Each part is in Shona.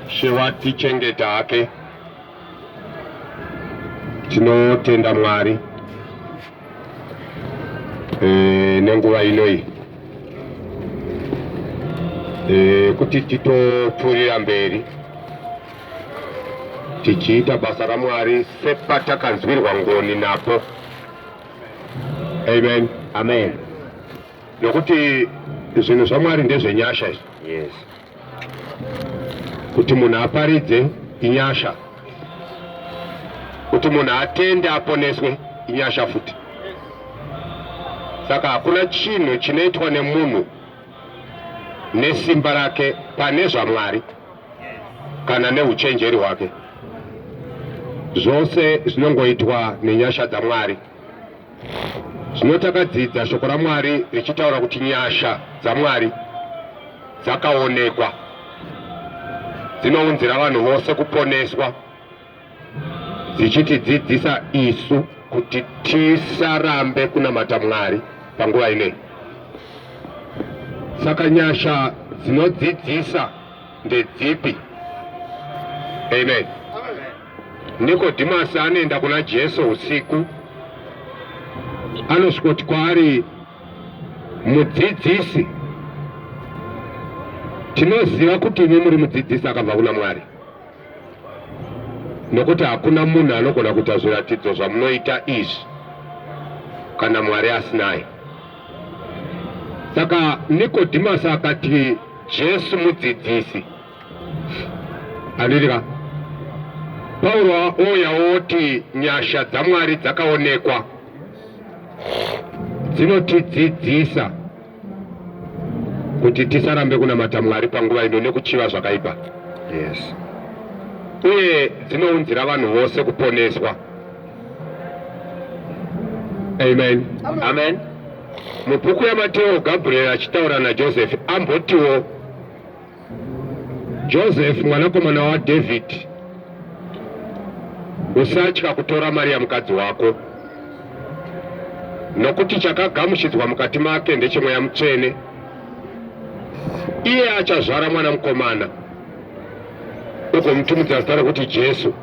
Shewatichengeta hake tinotenda Mwari e, nenguva inoyi e, kuti titopfuurira mberi tichiita basa raMwari sepatakanzwirwa ngoni napo. Amen, amen. Nokuti zvinhu zvaMwari ndezvenyasha izvi. Yes. Kuti munhu aparidze inyasha, kuti munhu atende aponeswe inyasha futi. Saka hakuna chinhu chinoitwa nemunhu nesimba rake pane zvaMwari kana neuchenjeri hwake, zvose zvinongoitwa nenyasha dzaMwari. Zvino takadzidza shoko raMwari richitaura kuti nyasha dzaMwari dzakaonekwa dzinounzira vanhu vose kuponeswa dzichitidzidzisa isu kuti tisarambe kunamata Mwari panguva inei. Saka nyasha dzinodzidzisa ndedzipi? Amen. Nikodimasi anoenda kuna Jesu usiku, anosvikoti kwaari, mudzidzisi, tinoziva kuti imi muri mudzidzisi akabva kuna Mwari, nokuti hakuna munhu anogona kuita zviratidzo zvamunoita izvi kana Mwari asinaye. Saka Nikodhimasi akati, Jesu mudzidzisi. Andirika. Pauro ouya oti nyasha dzaMwari dzakaonekwa dzinotidzidzisa kuti tisarambe kunamata Mwari panguva ino nekuchiva zvakaipa. Yes. Uye dzinounzira vanhu vose kuponeswa. Amen. Amen. Amen. Mubhuku yaMateo Gabriel achitaura naJoseph ambotiwo Joseph mwanakomana waDavid usatya kutora Maria mukadzi wako nokuti chakagamuchidzwa mukati make ndechemweya mutsvene iye achazvara mwana mukomana ugomutumidza zita rekuti Jesu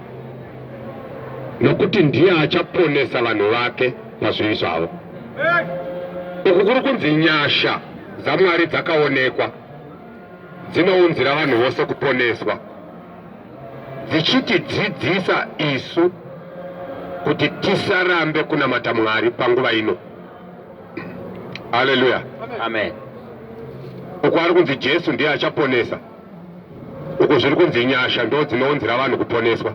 nokuti ndiye achaponesa vanhu vake pazvivi zvavo. Uku kuri kunzi nyasha dzaMwari dzakaonekwa dzinounzira vanhu vose kuponeswa dzichitidzidzisa isu kuti tisarambe kunamata Mwari panguva ino. Haleluya. Amen. Uku ari kunzi Jesu ndiye achaponesa. uku zviri kunzi nyasha ndo dzinounzira vanhu kuponeswa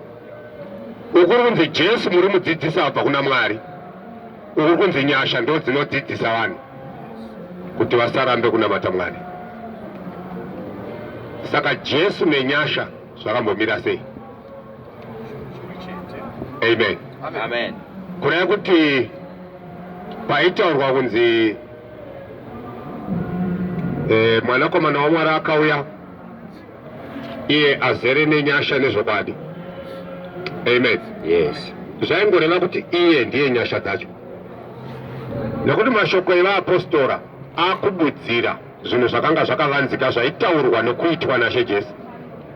uku kuri kunzi jesu muri mudzidzisi abva kuna mwari uku kuri kunzi nyasha ndo dzinodzidzisa vanhu kuti vasarambe kunamata mwari saka jesu nenyasha zvakambomira sei amen, amen. amen. kureva kuti paitaurwa kunzi E, mwanakomana waMwari akauya iye azere nenyasha nezvokwadi. Amen. Yes. Zvaingoreva kuti iye ndiye nyasha dzacho, nekuti mashoko evaapostora akubudzira zvinhu zvakanga zvakavanzika zvaitaurwa nokuitwa naShe Jesu.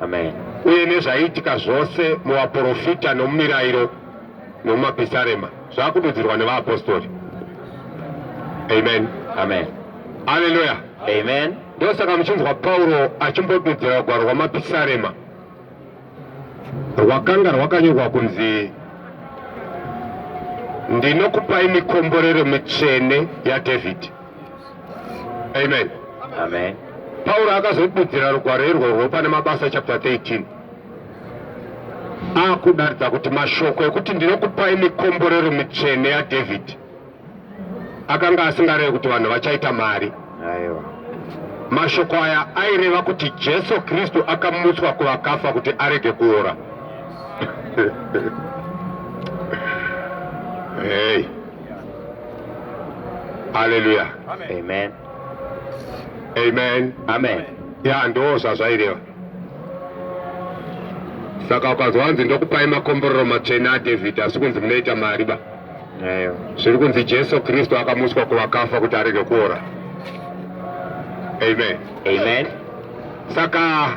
Amen. Uye nezvaiitika zvose muvaprofita nomumirayiro nomumapisarema zvakududzirwa nevaapostori amen amen aleluya amen ndosaka muchinzwa pauro achimbodudzira gwaro rwamapisarema rwakanga rwakanyorwa kunzi ndinokupai mikomborero mitsvene yadhavhidhi amen amen pauro akazodudzira rugwaro irworwo pane mabasa chapter 13 akudaridza kuti mashoko ekuti ndinokupai mikomborero mitsvene yadhavhidhi akanga asingarevi kuti vanhu vachaita mari mashoko aya aireva kuti jesu kristu akamutswa kuvakafa kuti arege kuora hey. aleluya amen amen amen ya ndoo zvazvaireva saka ukazwa wanzi ndokupai makomborero matsvene adhavhidhi asi kunzi munoita mari ba zviri kunzi jesu kristu akamuswa kuvakafa kuti arege kuora amen amen saka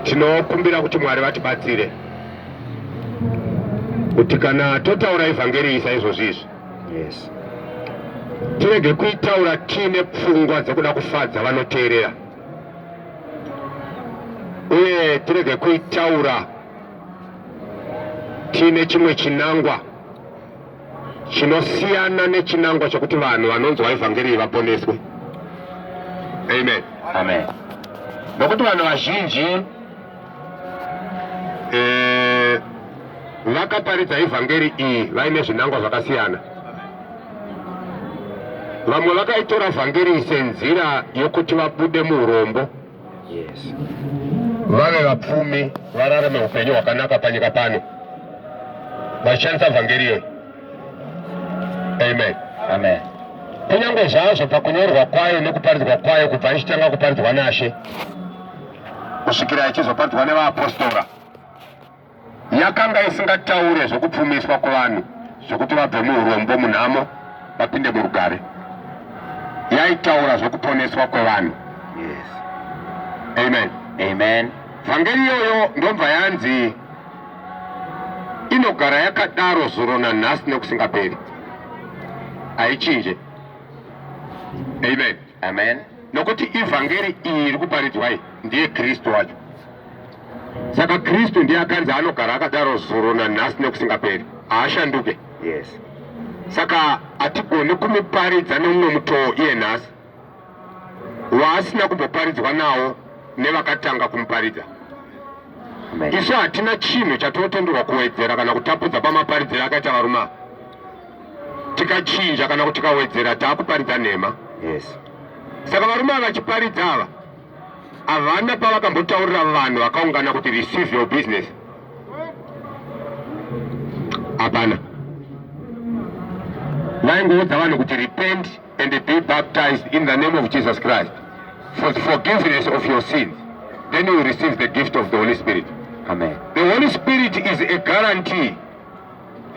tinokumbira kuti mwari vatibatsire kuti kana totaura evhangeri isa izvozvi izvi yes tirege kuitaura tiine pfungwa dzekuda kufadza vanoteerera uye tirege kuitaura tiine chimwe chinangwa chinosiyana nechinangwa chokuti vanhu vanonzwa evhangeri iyi vaponeswe amen amen nokuti vanhu vazhinji eh, vakaparidza ivhangeri iyi vaine zvinangwa zvakasiyana vamwe vakaitora vhangeri senzira yokuti vabude muurombo vave vapfumi vararame upenyu hwakanaka panyika pano vachishandisa vhangeri iyoyi amen amen kunyange zvazvo pakunyorwa kwayo nekuparidzwa kwayo kubva ichitanga kuparidzwa nashe kusvikira yachizoparadzwa nevaapostora yakanga isingataure zvekupfumiswa kuvanhu zvekuti vabve muurombo munhamo vapinde murugare yaitaura zvekuponeswa kwevanhu yes. amen amen vhangeri iyoyo ndobva yanzi inogara yakadaro zuro nanhasi nekusingaperi haichinje amen amen nokuti ivhangeri iyi iri kuparidzwai ndiye kristu wacho saka kristu ndiye akanzi anogara akadaro zuro nanhasi nekusingaperi haashanduke yes saka hatigoni kumuparidza neumwe mutoo iye nhasi waasina kumboparidzwa nawo nevakatanga kumuparidza isu hatina chinhu chatinotenderwa kuwedzera kana kutapudza pamaparidziro akaita varume ava tikachinja kana kuti tikawedzera taakuparidza nhema yes saka varume ava vachiparidza ava havana pavakambotaurira vanhu vakaungana kuti receive your business hapana vaingoudza vanhu kuti repent and be baptized in the name of jesus christ for the forgiveness of your sins then you receive the gift of the holy spirit amen the holy spirit is a guarantee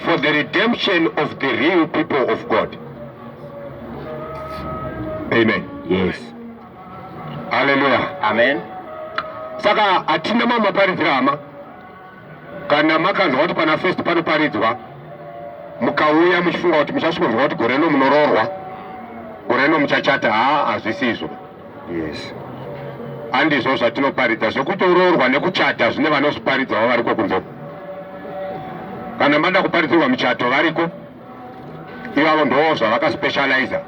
for the redemption of the real people of God. Amen. Yes. Hallelujah. Amen. Saka hatina mama paridzira hama kana makanzwa kuti pana first panoparidzwa mukauya muchifunga kuti muchasvikonzwa kuti gore rino munoroorwa gore rino muchachata haa hazvisi izvo Yes. Andizvo zvatinoparidza zvekutoroorwa nekuchata zvine vanozviparidzawo variko kunze. Kana mada kuparidzirwa michato variko ivavo ndoo zvavakaspecializa.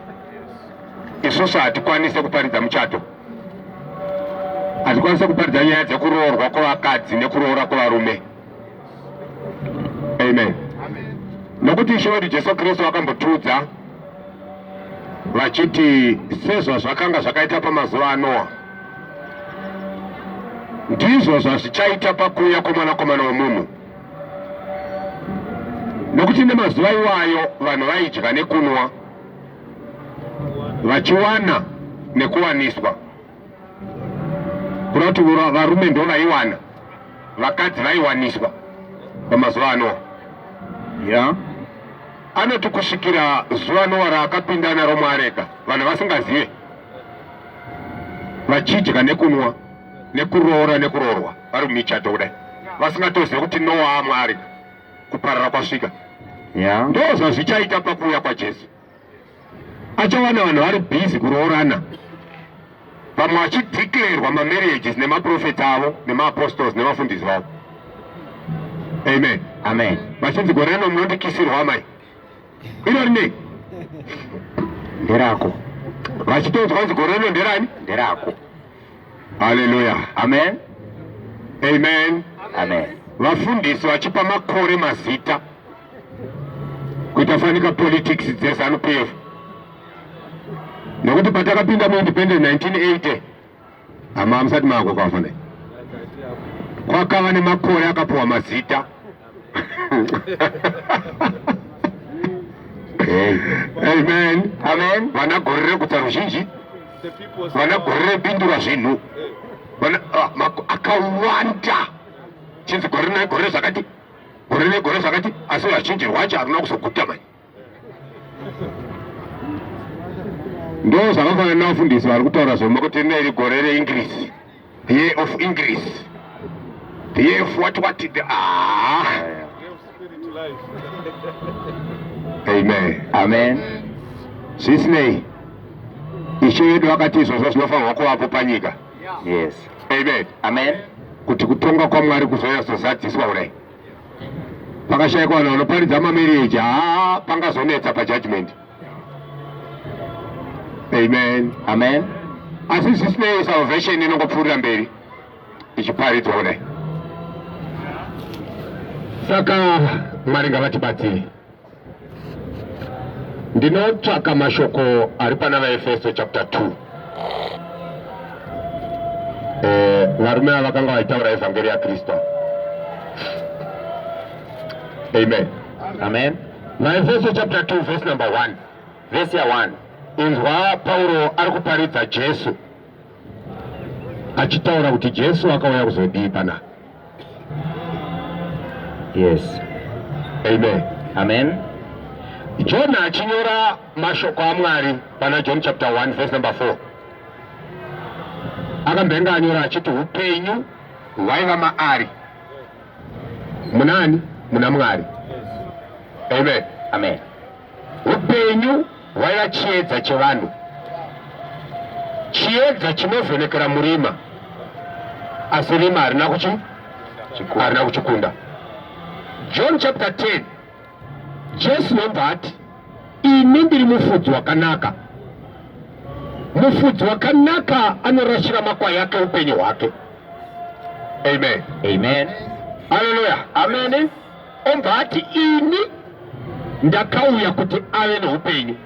Isusu hatikwanise kuparidza muchato hatikwanise kuparidza nyaya dzekuroorwa kwevakadzi nekuroora kwevarume. amen nokuti ishe wedu jesu kristu vakambotiudza vachiti sezvazvakanga zvakaita pamazuva anoa ndizvo zvazvichaita pakuuya kwomwanakomana womunhu nokuti nemazuva iwayo vanhu vaidya nekunwa vachiwana nekuwaniswa kunoti varume ndo vaiwana vakadzi vaiwaniswa pamazuva ano ya anoti kusvikira zuva nowa raakapinda naro muareka vanhu vasingazive vachidya nekunwa nekuroora nekuroorwa vari mumichato kudai vasingatozive kuti nowa amwarika kuparara kwasvika ya ndo zvazvichaita pakuuya kwajesu achawana vanhu vari busy kuroorana vamwe vachideclarerwa mamarriages nemaprofeti avo nemaapostles nevafundisi vavo amen amen vachinzi gore rino munondikisirwa amai iro rine nderako vachitonzwa nzi gore rino nderani nderako haleluya amen amen amen vafundisi vachipa makore mazita kuita fanika politics dzezanu p f nekuti patakapinda muindependent 1980 hama hamusati maako kwafana kwakava nemakore akapuwa mazita amen amen vana gore rekutsa ruzhinji vana gore repindura zvinhu ah, akawanda chinzi gore negore zvakati gore negore zvakati asi vazhinji rwacho haruna kuzoguta mani ndo zvakafanana navafundisi vari kutaura zvema kuti rina iri gore reingrisi the year of ingrisi the year of what what the ah amen amen zvisinei ishe yedu vakati izvozvo zvinofanirwa kuvapo panyika yes amen amen kuti kutonga kwamwari kuzouya zozadziswa kudai pakashaikwa vanhu vanoparidza mamereji haa pangazonetsa pajudgment amen amen asi zvisinei salvation inongopfuurira mberi ichiparidzwa kudai saka mwari ngavatibatsire Ndinotsvaka mashoko ari pana vaEfeso chapter 2. Eh, varume ava vakanga vaitaura evhangeri yaKristu. Amen. Amen. VaEfeso chapter 2 verse number 1. Verse ya 1. Inzwa Pauro ari kuparidza Jesu. achitaura kuti Jesu akauya kuzodii pana yes amen amen Jona achinyora mashoko aMwari pana John chapter 1 verse number 4 akambenga anyora achiti upenyu hwaiva maari munani muna Mwari amen amen upenyu vaiva chiedza chevanhu, chiedza chinovhenekera murima, asi rima harina kuchi harina kuchikunda. John chapter 10 Jesu nobva ati ini ndiri mufudzi wakanaka. Mufudzi wakanaka anorashira makwai ake upenyu hwake. Amen. Amen. Hallelujah. Amen. Obva ati ini ndakauya kuti ave neupenyu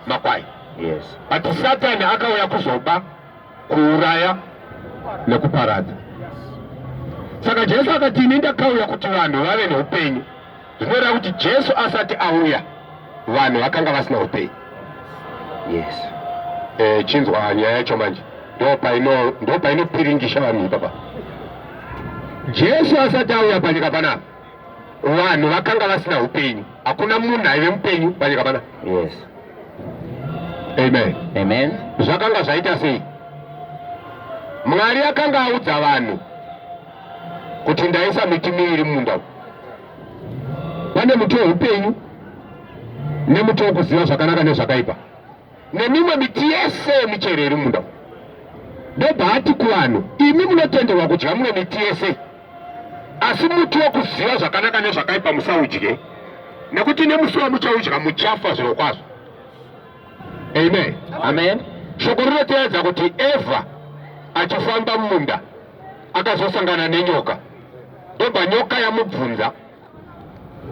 makwai. Yes. Ati Satani akauya kuzoba, kuuraya nekuparadza. Saka Jesu akati ini ndakauya kuti vanhu vave neupenyu. Zvinoreva kuti Jesu asati auya vanhu vakanga vasina upenyu. Yes. Eh, chinzwa nyaya yacho manje ndopainopiringisha vanhu ipapa jesu asati auya panyika panapa vanhu vakanga vasina upenyu hakuna munhu aive mupenyu panyika pana yes amen amen zvakanga zvaita sei mwari akanga audza vanhu kuti ndaisa miti miviri mumunda pane muti weupenyu nemuti wekuziva zvakanaka nezvakaipa nemimwe miti yese yemichero iri munda ndobva ati kuvanhu imi munotenderwa kudya mimwe miti yese asi muti wokuziva zvakanaka nezvakaipa musaudye nekuti nemusi wamuchaudya muchafa zviro kwazvo amen amen shoko rinoteedza kuti evha achifamba mumunda akazosangana nenyoka ndobva nyoka yamubvunza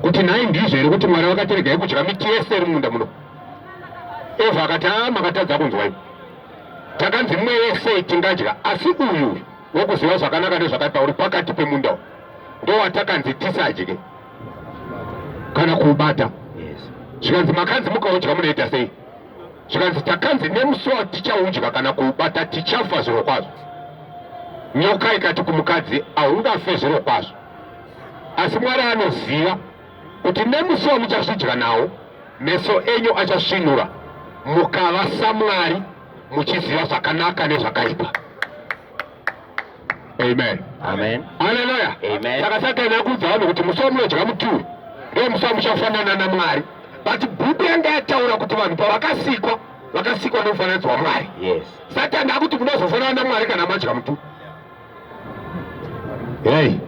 kuti nhai ndizvo here kuti mwari vakatiregai kudya miti yese iri mumunda muno eva akati a ah, makatadza kunzwa ivo takanzi mumwe wese tingadya asi uyu wekuziva zvakanaka nezvakaipa uri pakati pemunda u ndowatakanzi tisadye kana kuubata zvikanzi makanzi mukaudya munoita sei zvikanzi takanzi nemusi watichaudya kana kuubata tichafa zviro kwazvo nyoka ikati kumukadzi haungafe zviro kwazvo asi Mwari anoziva kuti nemusi wamuchazvidya nawo meso enyu achasvinura mukava saMwari muchiziva zvakanaka nezvakaipa. Amen. Amen. Hallelujah. Amen. Saka Satani akuudza vanhu kuti musi wamunodya muti uyu ndiwo musi wamuchafanana naMwari. But bhuku yanga yataura kuti vanhu pavakasikwa vakasikwa nemufananidzo waMwari. Yes. Satani akuti munozofanana naMwari kana madya muti uyu. Hey.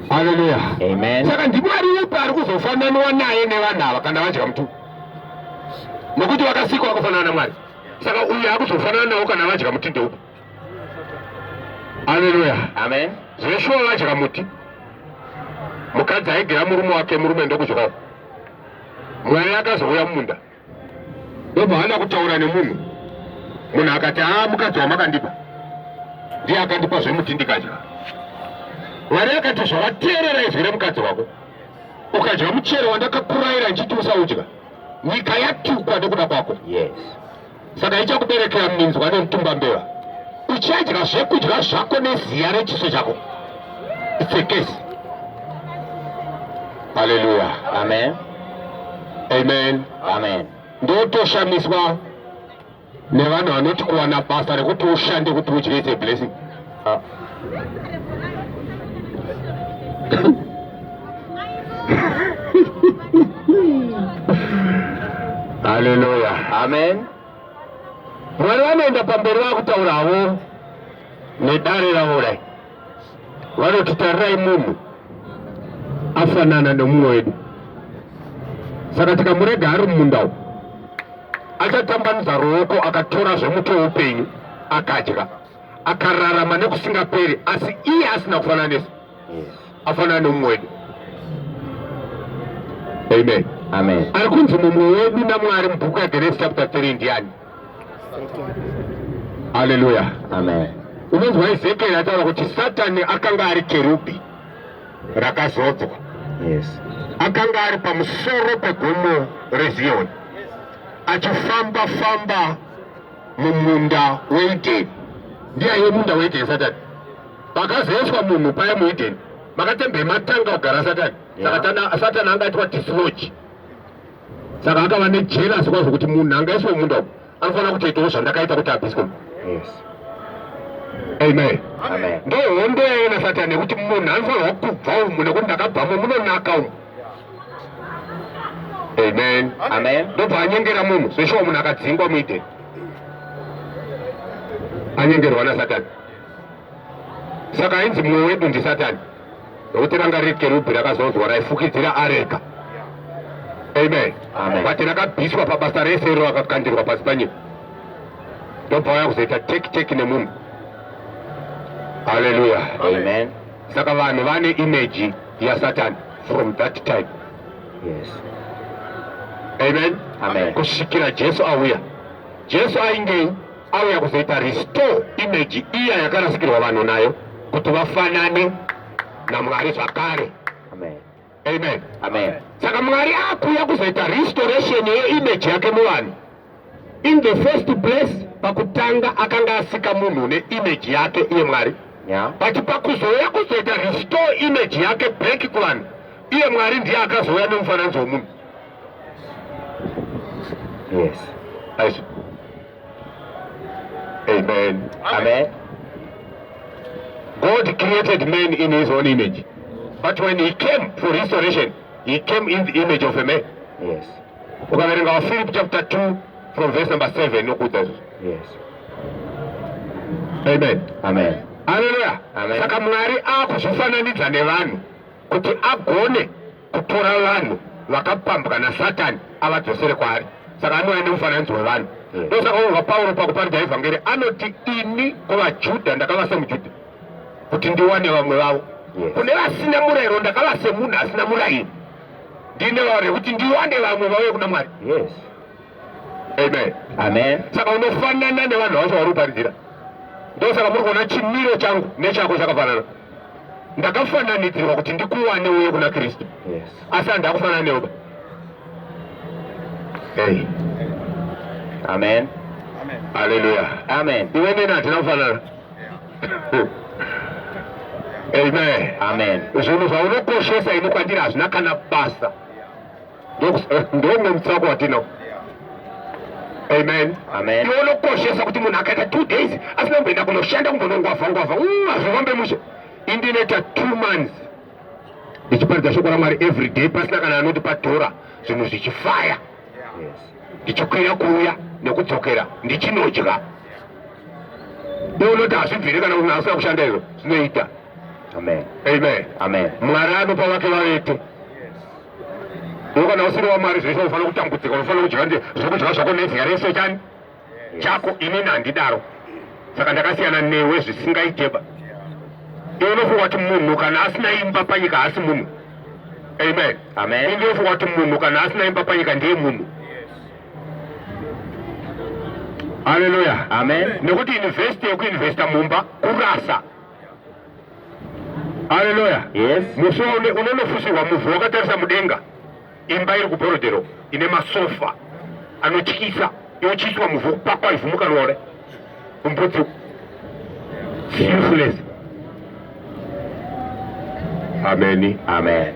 Haleluya. Amen. Saka ndimwari upi ari kuzofananiwa naye nevanhu ava kana vadya mutumbi? Nokuti vakasikwa vakafanana naMwari. Saka uyu akuzofanana nawo kana vadya muti ndeupi? Haleluya. Amen. Zveshuwa vadya muti. Mukadzi aigera murume wake murume ndokudyawo. Mwari akazouya mumunda. ndobva hana kutaura nemunhu munhu akati haa ah, mukadzi wamakandipa ndiye akandipa zvemuti ndikadya mwari akati zvavateerera izwi remukadzi wako ukadya muchero wandakakuraira ndichiti usaudya nyika yatukwa nekuda kwako yes. saka ichakuberekera minzwa nemutumba mbeva uchadya zvekudya zvako neziya rechiso chako itsekesi haleluya amen amen amen ndotoshamiswa nevanhu vanoti kuwana basa rekuti ushande kuti udyese blessing Haleluya, amen. Mwari vanoenda pamberi vakutaura havo nedare ravo kudai, vanoti tarirai munhu afanana nemumwe wedu, saka tikamurega ari mumunda umu achatambanudza ruoko akatora zvemuti weupenyu akadya. akararama nekusingaperi asi iye asina kufananisa afanana nemumwe wedu amen amen ari kunzi mumwe wedu namwari mubhuku yagenesis chapter 3 ndiani haleluya amen unonzwa ezekieri ataura kuti satani akanga ari kerubhi rakazodzwa yes akanga ari pamusoro pegomo reziyoni achifamba famba mumunda weideni ndiyaye munda weideni satani pakazoiswa munhu paya muideni makatembe matanga kugara satani saka satani anga aitwa dislodge saka akava nejelasi kwazvo kuti munhu anga aiswa munda uku anofanira kutoitawo zvandakaita kuti abiswe amen ndohondo yaiona satani yekuti munhu anofanirwa kubva umu nekuti ndakabvamo munonaka umu amen amen ndobva anyengera munhu zveshuwa munhu akadzingwa muideni anyengerwa nasatani saka ainzi mumwe wedu ndisatani nokuti ranga riri kerubhi rakazonzwa raifukidzira arega amen but rakabviswa pabasa rese iro rakakandirwa pasi panyika ndobva waya kuzoita teki teki nemunhu haleluya saka vanhu vane imeji yasatani from that time yes. amen, amen. kusvikira jesu auya jesu aingei auya kuzoita restore image iya yakarasikirwa vanhu nayo kuti vafanane namwari zvakare amen, amen. amen. saka mwari akuya kuzoita restoration yeimage yake muvanhu In the first place, pakutanga akanga asika munhu ne image yake iye Mwari. Yeah. But pakuzouya kuzoita restore image yake back kuvanhu, iye Mwari ndiye akazouya nemufananidzo wemunhu. Yes. Aisha. Amen. Amen. God created man in his own image. But when he came for restoration, he came in the image of a man. Yes. ukaverenga Philip chapter 2 from verse number 7 inokuudza izvo yes amen amen haleluya saka mwari akuzvifananidza nevanhu kuti agone kutora vanhu vakapambwa nasatani avadzosere kwaari saka anouya nemufananidzo wevanhu ndosaka uva pauro pakuparidza evhangeri anoti ini kuvajudha ndakava semujudha kuti ndiwane vamwe vavo kune vasina murayiro ndakava semunhu asina murayiro ndine wari kuti ndiwande vamwe vauye kuna mwari yes amen amen saka unofanana nevanhu vacho vari kuparidzira ndosaka muri kuona chimiro changu nechako chakafanana ndakafananidzirwa kuti ndikuwane uye kuna kristu asi handi akufanana neoba hey. amen aleluya amen iwe neni hatina kufanana Amen. Amen. Zvinhu zvaunokoshesa ini kwandiri hazvina kana basa. Ndonge mutsako watino. Amen. Amen. Iwe unokoshesa kuti munhu akaita two days asina kumboenda kunoshanda kumbonongwavha ngwavha. Mm, hazvifambe mushe. Indinoita two months. Ndichiparidza shoko raMwari every day pasina kana anoti patora zvinhu zvichifaya. Yes. Ndichikwira kuuya nekudzokera ndichinodya. download hazvibvire kana kuti asina kushanda izvo zvinoita amen amen amen mwari anopa vake vavete kana usiri wamwari zvese unofanira kutambudzika unofanira kudya nde zvokudya zvako neziya rese chani chako inini handidaro saka ndakasiyana newe zvisingaiteba iwe unofunga kuti munhu kana asina imba panyika haasi munhu amen amen inofunga kuti munhu kana asina imba panyika ndiye munhu Haleluya. Amen. Nekuti investi yekuinvesta mumba kurasa. Haleluya. Yes. Musi unonofusirwa muvhu wakatarisa mudenga. Imba iri kuBorodero ine masofa anotyisa yotyiswa muvhu kupakwa ivhu mukarore. Umbudzi. Useless. Amen. Amen.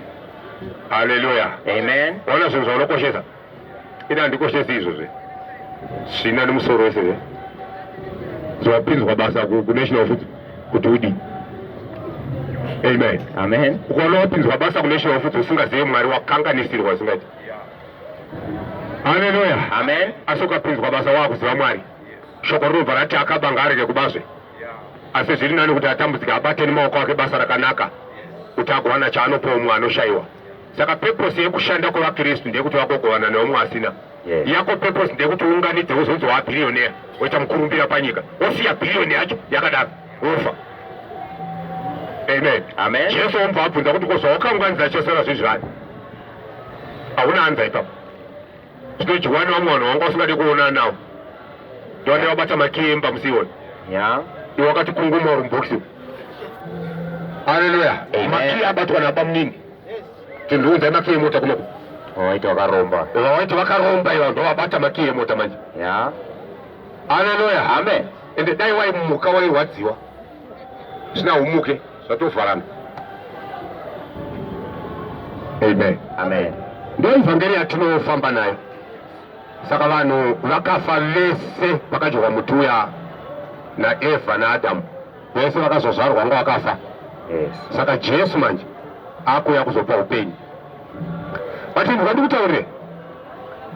Haleluya. Amen. Ona zvinhu zvaunokoshesa. ini handikoshesi izvo zve zvina nemusoro wese zve zvapinzwa basa kunational futi kuti udii amen amen ukaona wapinzwa basa kunational futi usingazive mwari wakanganisirwa usingati haleluya amen asi ukapinzwa basa waakuziva mwari shoko rinobva rati akabanga arege kubazve asi zviri nani kuti atambudzike abate nemaoko ake basa rakanaka kuti agowana chaanopowa mumwe anoshayiwa saka purpose yekushanda kwevakristu ndeyekuti vagogovana neumwe asina yes. yako purpose ndeyekuti unganidze uzonzi waa billionaire woita mukurumbira panyika wosiya billion yacho yakadaro wofa amen amen jesu wombva abvunza kuti kozvawakanganidza chasara zvezvani hauna anza ipapo zvinojiwana vamwe vanhu vanga usingade kuona nawo ndovane vabata makemba musioni yeah. iwakati kunguma uri mubhokisi haleluya maki abatwa nabamunini Tindiunzai makiyi emota kuno. Waiti wakaromba. Waiti wakaromba iva ndovabata makiyi emota manje. Ya. Haleluya. Amen. Ende dai waimuka wairwadziwa. Sina umuke zvatovharana. Amen. Amen. Ndio evangeli yatinofamba nayo. Saka vanhu vakafa vese vakadyoka muti uya naEvha naAdamu. vese vakazozvarwa vanga vakafa saka jesu manje akuya kuzopa upenyu vatinhu vandikutaurire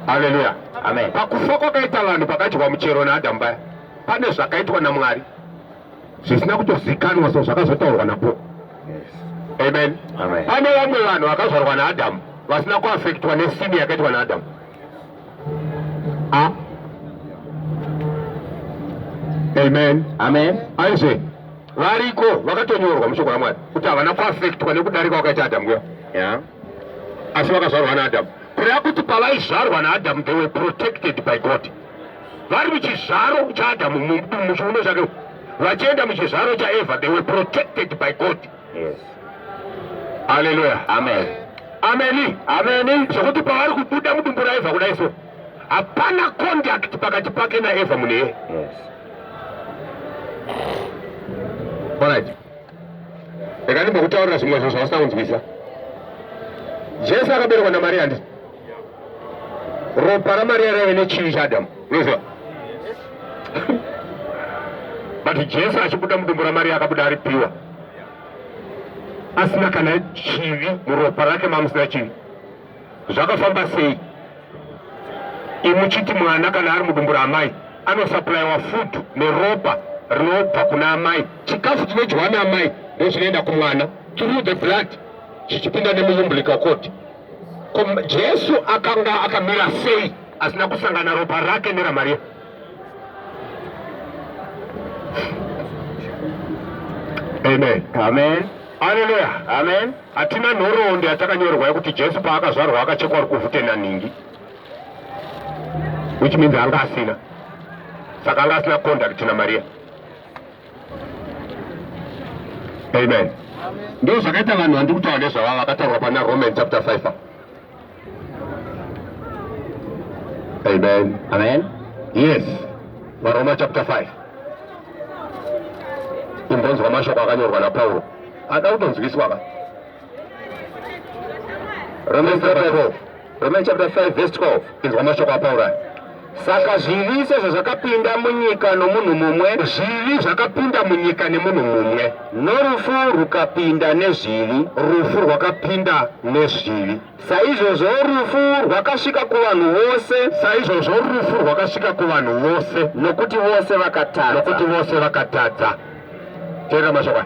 haleluya amen pakufa kwakaita vanhu pakadyiwa muchero naadhamu paya pane zvakaitwa namwari zvisina kutozikanwa so zvakazotaurwa napo amen pane vamwe vanhu vakazvarwa naadhamu vasina kuafektwa nesini yakaitwa naadhamu Ah. Amen. Amen. Aise variko vakatonyorwa mushoko raMwari kuti havana kuafektwa nekudarika wakaita Adamu kuya. Yeah. Asi vakazvarwa naAdamu. Kureva kuti pavaizvarwa naAdamu they were protected by God. Vari muchizvaro chaAdamu muchiuno chake vachienda muchizvaro chaEvha they were protected by God. Yes. Hallelujah. Amen. Amen. Amen. Zvekuti pavari kubuda mudumbu raEvha kudai so. Hapana contact pakati pake naEvha mune. Yes. Alright. Rega ndimbokutaurira zvimwe zvinhu zvausingakunzwisisa. Jesu akaberekwa naMaria ndi ropa ramariya raive nechivi chaadamu unoziva but jesu achibuda mudumbu ramariya akabuda ari piwa asina kana chivi muropa rake mamusina chivi zvakafamba sei imuchiti mwana kana ari mudumbu raamai anosaplaiwa food neropa rinobva kuna amai chikafu chinodyiwa naamai ndozvinoenda kumwana through the blood chichipinda nemuumbilical code Jesu akanga akamira sei asina kusangana ropa rake neraMaria? Amen. Amen. Haleluya. Amen. Hatina nhoroondo yatakanyorwa yekuti Jesu paakazvarwa akachekwa rukuvhute nanhingi. Which means anga asina. Saka anga asina contact naMaria. amen ndo zvakaita vanhu vandiri kutaura nezvavava vakatarwa pana roman chapter 5 amen amen yes varoma chapter 5 imbonzwa mashoko akanyorwa napauro ada kutonzwiswa ka Romans chapter 12. Romans chapter 5 verse 12. Inzwa mashoko aPauro. Saka zvivi sezvo zvakapinda munyika nomunhu mumwe, zvivi zvakapinda munyika nemunhu mumwe, norufu rukapinda nezvivi, rufu rwakapinda nezvivi. Saizvozvo rufu rwakasvika kuvanhu vose, saizvozvo rufu rwakasvika kuvanhu vose, nokuti vose vakatadza, nokuti vose vakatadza. Teera mashoko.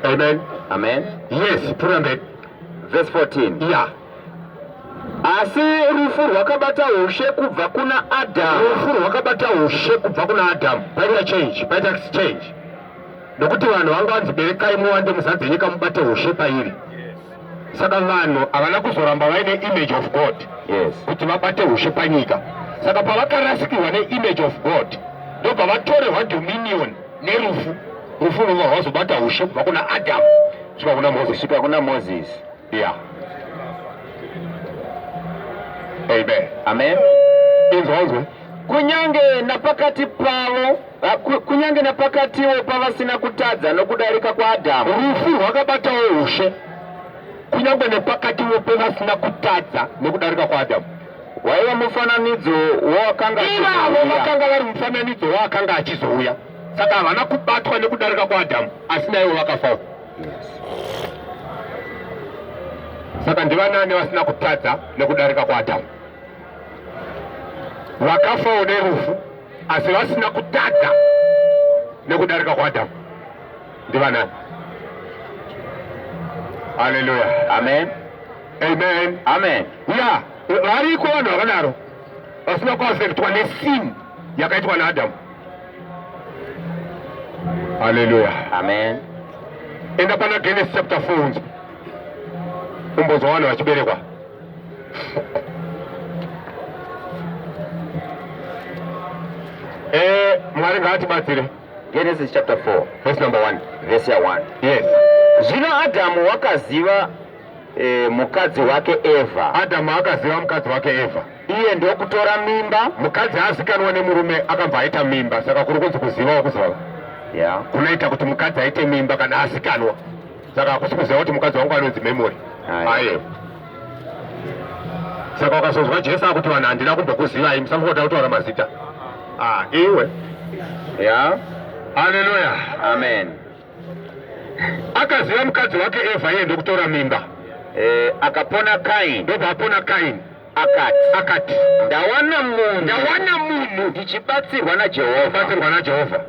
Amen. Amen. Yes, put on that. Verse 14. Yeah. asi rufu rwakabata ushe kubva kuna adamu rufu rwakabata ushe kubva kuna adamu paita change paita exchange nokuti vanhu vanga vanzi berekai muwande muzadze nyika mubate ushe pairi saka vanhu havana kuzoramba vaine image of god yes. kuti vabate ushe panyika saka pavakarasikirwa neimage of god ndobva vatorerwa dominion nerufu rufu rwobva rwazobata ushe kubva kuna adamu svika kuna mozisi svika kuna mozisi ya yeah. amen amen inzwa inzwa kunyange napakati pavo kunyange napakatiwo pavasina kutadza nokudarika kwaadhamu rufu rwakabatawo ushe kunyange nepakatiwo pevasina kutadza nokudarika kwaadhamu waiva mufananidzo wawakanga ivavo vakanga vari mufananidzo waakanga achizouya saka havana kubatwa nekudarika kwaadhamu asi naivo vakafawo saka ndivanani vasina kutadza nekudarika kwaadhamu vakafawo nerufu asi vasina kutadza nekudarika kwaadhamu ndivanani haleluya amen amen amen ya variko vanhu vakadaro vasina kuafektwa nesin yakaitwa naadamu haleluya amen enda pana genesis chapter 4 unzi umbozwa vanhu vachiberekwa eh, mwari ngaatibatsire genesis chapter 4 verse number 1 verse ya 1 yes zvino adhamu wakaziva e, mukadzi wake Eva. Adamu akaziva mukadzi wake Eva. Iye ndokutora mimba. Mukadzi haazikanwa nemurume akabva aita mimba, saka kuri kunzi kuziva wakuziva yeah. kunoita kuti mukadzi aite mimba kana asikanwa, saka hakusi kuziva kuti mukadzi wangu anonzi memory aye saka ukazonzwa Jesu akuti vanhu handina kumbokuzivai musamboda kutaura mazita ah, iwe yeah. Hallelujah. Amen. akaziva mukadzi wake Eva iye ndokutora mimba eh, akapona Kaini ndobva apona Kaini akati akati ndawana munhu ndawana munhu ndichibatsirwa naJehovha ndichibatsirwa naJehovha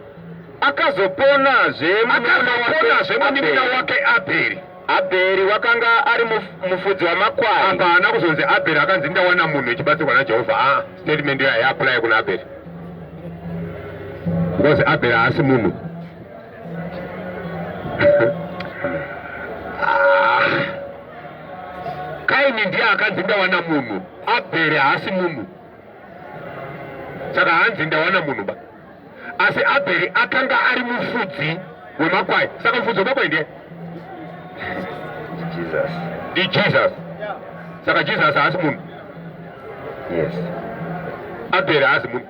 akazoponazve akazoponazve munimuna wake Abheri abheri wakanga ari mufudzi wamakwai apa haana kuzonzi abheri akanzi ndawana munhu echibatsirwa najehovha a ah, statement yaapulaya kuna abheri because abheri haasi munhu kaini ndiye akanzi ndawana munhu abheri haasi munhu saka hanzi ndawana munhu ba asi abheri akanga ari mufudzi wemakwai saka mufudzi wemakwai ndiye ndijesus saka jesus haasi munhu yes abheri haasi munhu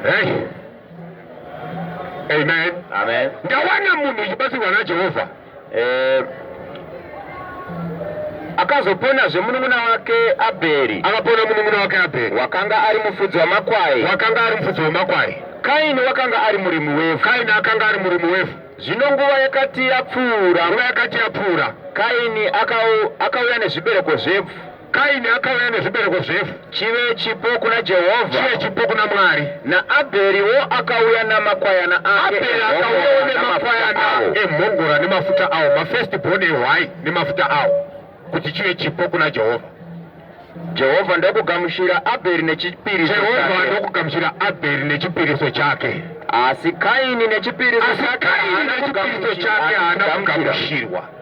Hey. Amen. Amen. Ndawana munhu uchibatsirwa naJehovha. Eh akazopona zvemunun'una wake Abheri. Akapona munun'una wake Abheri. Wakanga ari mufudzi wamakwai. Wakanga ari mufudzi wamakwai. Kaini wakanga ari murimi wevhu. Kaini akanga ari murimi wevhu. Zvino nguva yakati yapfuura. Nguva yakati yapfuura. Kaini akauya nezvibereko zvevhu. Kaini akauya nezvibereko zvefu chive chipo kuna Jehovha, chive chipo kuna Mwari. NaAbheriwo akauya namakwayana ake, Abheri akauyawo nemakwayana emhongora nemafuta awo, mafirst born ehwai nemafuta awo, kuti chive chipo kuna Jehovha. Jehovha ndokugamuchira Abheri nechipiriso chake. Jehovha ndokugamuchira Abheri nechipiriso chake. Asi Kaini nechipiriso chake haana kugamuchirwa.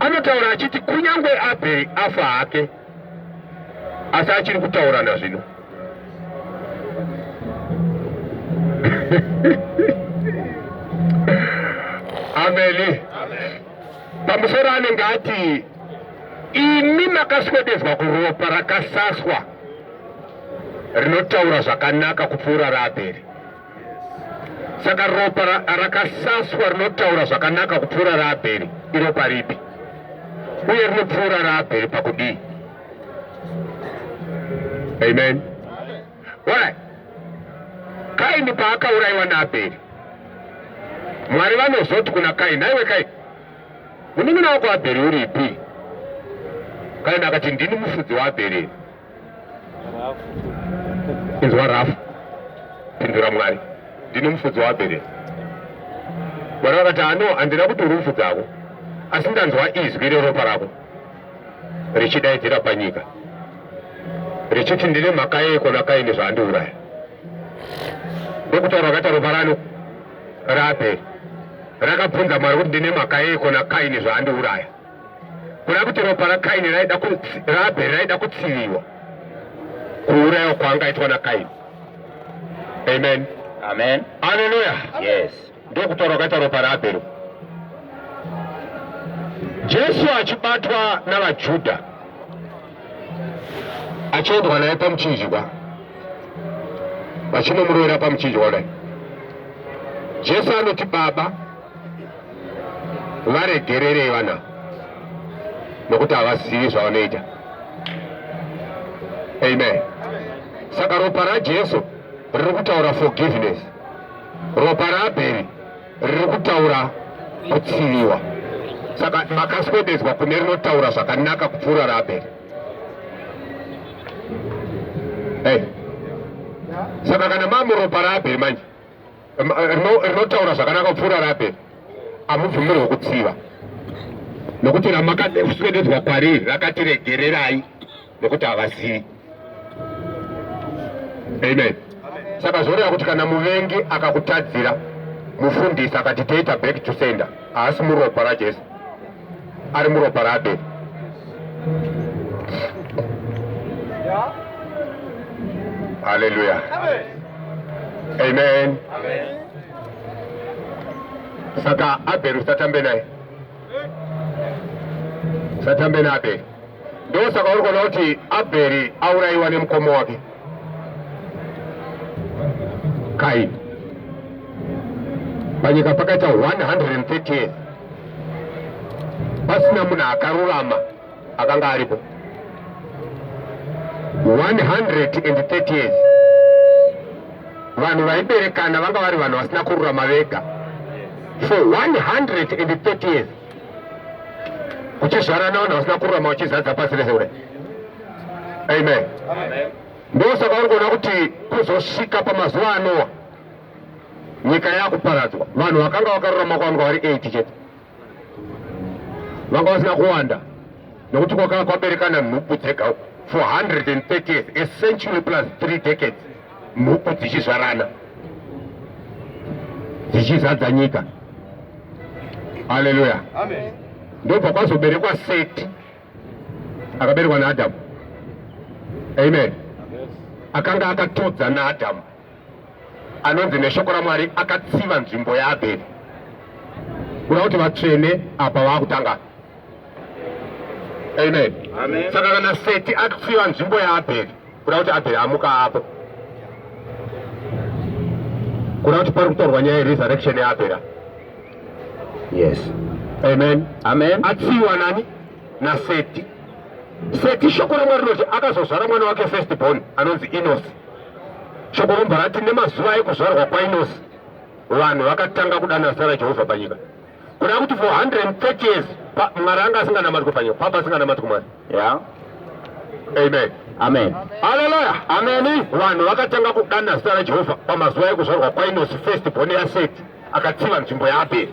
anotaura achiti kunyange abheri afa hake asi achiri kutaurana zvino ameni pamusoro anenge ati imi makaswedezwa kuropa rakasaswa rinotaura zvakanaka kupfuura raabheri saka ropa rakasaswa rinotaura zvakanaka kupfuura raabheri iro paripi uye rinopfuura raabheri pakudii amen orai kaini paakaurayiwa naabheri mwari vanozoti kuna kaini aiwe kaini munin'ina wako abheri uripi kaini akati ndini mufudzi waabheri inzwa rafu pindura mwari ndine mufudzi waabhere mwari vakati ano handina kuti uri mufudzi ako asi ndanzwa izwi reropa rako richidaidzira panyika richiti ndine mhaka yeko nakaini zvaandiuraya ndokutaura akaita ropa rano raabhere rakabvunza mwari kuti ndine mhaka yeko nakaini zvaandiuraya kuda kuti ropa rakaini raabheri raida kutsiviwa kuurayiwa kwaangaitwa nakaini amen amen aleluya yes ndokutaura kwakaita ropa raabheri jesu achibatwa navajudha achiendwa naye pamuchinjikwa vachinomuroera pamuchinjikwa kudai jesu anoti baba varegererei vana nokuti havazivi zvavanoita amen saka ropa rajesu riri kutaura forgiveness ropa raabheri riri kutaura kutsiviwa saka makaswededzwa kune rinotaura zvakanaka kupfuura raabheri hey. saka kana mamuropa raabheri manje rinotaura zvakanaka kupfuura rape amubvumirwe kutsiva nokuti ramakaswededzwa kwariri rakati regererai nokuti havazivi amen saka zvoreva kuti kana muvengi akakutadzira mufundisi akati toita back to sender haasi muropa rajesu ari muropa rake haleluya amen saka abheri usatambe naye usatambe naabheri ndosaka uri kuona kuti abheri aurayiwa nemukoma wake Kai panyika pakaita 130 years pasina munhu akarurama akanga aripo 130 years vanhu vaiberekana vanga vari vanhu vasina kururama vega for 130 years kuchizvarana vanhu vasina kururama vachizadza pasi rese kudai amen ndosaka uri kuona kuti kuzosvika pamazuva anowa nyika yakuparadzwa vanhu vakanga vakarurama kwanga vari 8 chete vanga vasina kuwanda nekuti kwakanga kwaberekana nhubu dzega 430 years a century plus three decades nhubu dzichizvarana dzichizadza nyika aleluya ndobva kwazoberekwa seti akaberekwa naAdamu. Amen. Akanga akatodza naAdamu, anonzi neshoko raMwari akatsiva nzvimbo yaAbheri, kuda kuti vatsvene apa vakutanga. Amen. Saka kana Seti atsiva nzvimbo yaAbheri kuda kuti abheri amuka apo kuda kuti pari kutorwa nyaya yeresurrection yaabhera yes amen amen atsiwa nani naseti seti shoko ramwari rinoti akazozvara mwana wake first born anonzi inosi shoko rombharati nemazuva ekuzvarwa kwainosi vanhu vakatanga kudana zita rajehovha panyika Kuna kuti for 130 years Mwari anga asinganamatwi panyika, papa asinganamatwi Mwari. Yeah. Amen. Amen. Hallelujah. Amen. Vanhu vakatanga kudana zita raJehovha pamazuva ekuzvarwa kwaInosi first born yaSeti akatsiva nzvimbo yaAbheri.